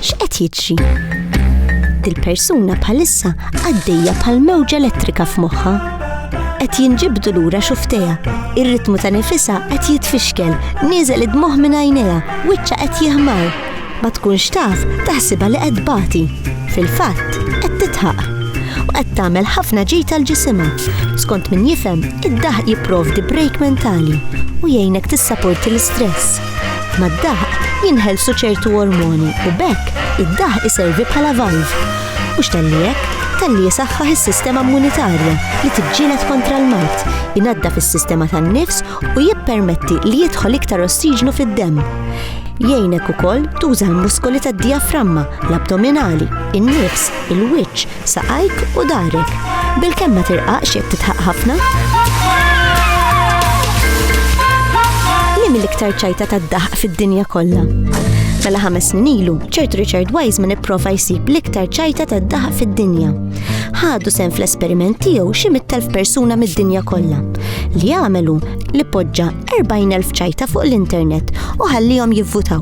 X'qed jiġri? Dil-persuna bħalissa għaddejja bħal mewġa elettrika f'moħħha. Qed jinġibdu lura xufteja, ir-ritmu ta' nifisha qed jitfixkel, nieżel id-dmuħ minn għajnejha, wiċċa qed jihmar. Ma tkunx taf taħsibha li qed tbati. Fil-fatt, qed titħaq. U qed tagħmel ħafna ġid għal ġisimha. Skont min jifhem, id-daħq jipprovdi break mentali u jgħinek tissaporti l-istress. Mad-daħq jinħelsu ċertu ormoni u bekk id-daħq iservi bħala valv. Mhux talli hekk, talli jisaħħaħ is-sistema immunitarja li tiġġieled kontra l-mart, jnaddaf is-sistema tan-nifs u jippermetti li jidħol iktar ossiġnu fid-demm. Jgħinek ukoll tuża l-muskoli tad-dijaframma, l-abdominali, in-nifs, il-wiċċ, saqajk u darek. Bil-kemm ma tirqaqx jekk titħaq ħafna? Li mill-iktar ċajta tad-daħq fid-dinja kollha? Mela ħames snin ilu, ċert Richard Wiseman ipprova jsib l-iktar ċajta ta' daħ fid-dinja. Ħadu sen fl-esperiment tiegħu xi mit-telf persuna mid-dinja kollha. Li għamelu li poġġa 40,000 ċajta fuq l-internet u ħallihom jivvutaw.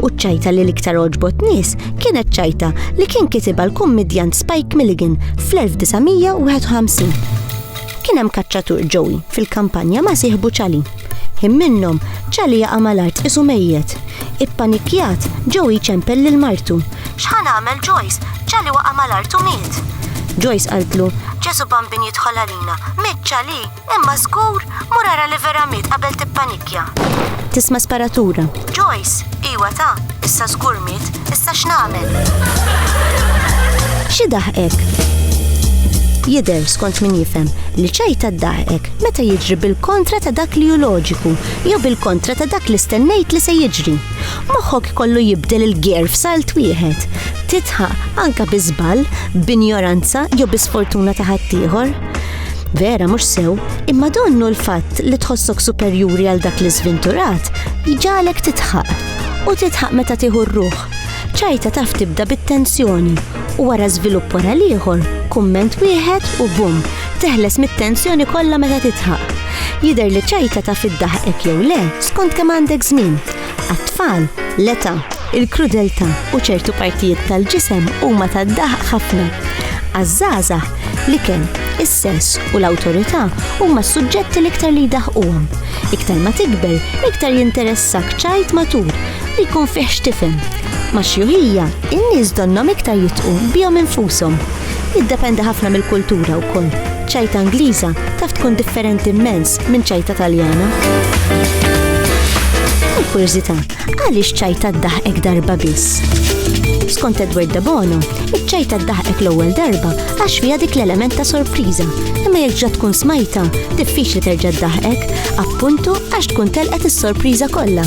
U ċajta li l-iktar oġbot nies kienet ċajta li kien kitiba l-kummedjant Spike Milligan fl-1951. Kien hemm kaċċatur ġowi fil-kampanja ma' siħbu ċali. Him minnhom ċali jaqa' mal-art isu mejjet. Ippanikjat ġowi ċempel lil martu. X'ħan għamel Joyce? ċali waqa' mal-art u miet. Joyce qaltlu, Ġesu Bambin jidħol għalina, miet ċali! Imma żgur, mur ara li vera miet qabel tippanikja. Tisma' sparatura. Joyce, iwa ta, issa żgur miet, issa x'nagħmel? Xi daħqek? Jidher skont min jifhem li ċajta daħqek meta jiġri bil-kontra ta' dak li hu loġiku jew bil-kontra ta' dak li stennejt li se jiġri. Moħħok kollu jibdel il-gear f'salt wieħed. Titħaq anka bi żball, b'injoranza jew bi sfortuna ta' ħaddieħor. Vera mhux sew, imma donnu l-fatt li tħossok superjuri għal dak li żvinturat jġalek titħaq u titħaq meta tieħu r-ruħ. Ċajta taf tibda bit-tensjoni u wara żvilupp wara l-ieħor, kumment wieħed u bum, teħles mit-tensjoni kollha meta titħaq. Jider li ċajta taf iddaħqek jew le, skont kemm għandek żmien. Għat-tfal, l-età, il-krudeltà u ċertu partijiet tal-ġisem huma tad-daħq ħafna. Għaż-żgħażagħ, l-ikel, is-sess u l-awtorità huma s-suġġetti l-iktar li jdaħquhom. Iktar ma tikber, iktar jinteressak ċajt matur li jkun fih x'tifhem. Ma' xjuħija, in-nies donnhom iktar jitqu bihom infushom. Jiddependi ħafna mill-kultura wkoll. Ċajta Ingliża taf tkun differenti mmens Minn ċajta Taljana. Il-kurżità, għaliex ċajta ddaħqek darba biss? Skont Edward Dabono, iċ-ċajta ddaħqek l-ewwel darba għax fiha dik l-element ta' sorpriża, imma jekk ġa tkun smajta, diffiċli terġa' ddaħqek, appuntu għax tkun telqet is-sorpriża kollha.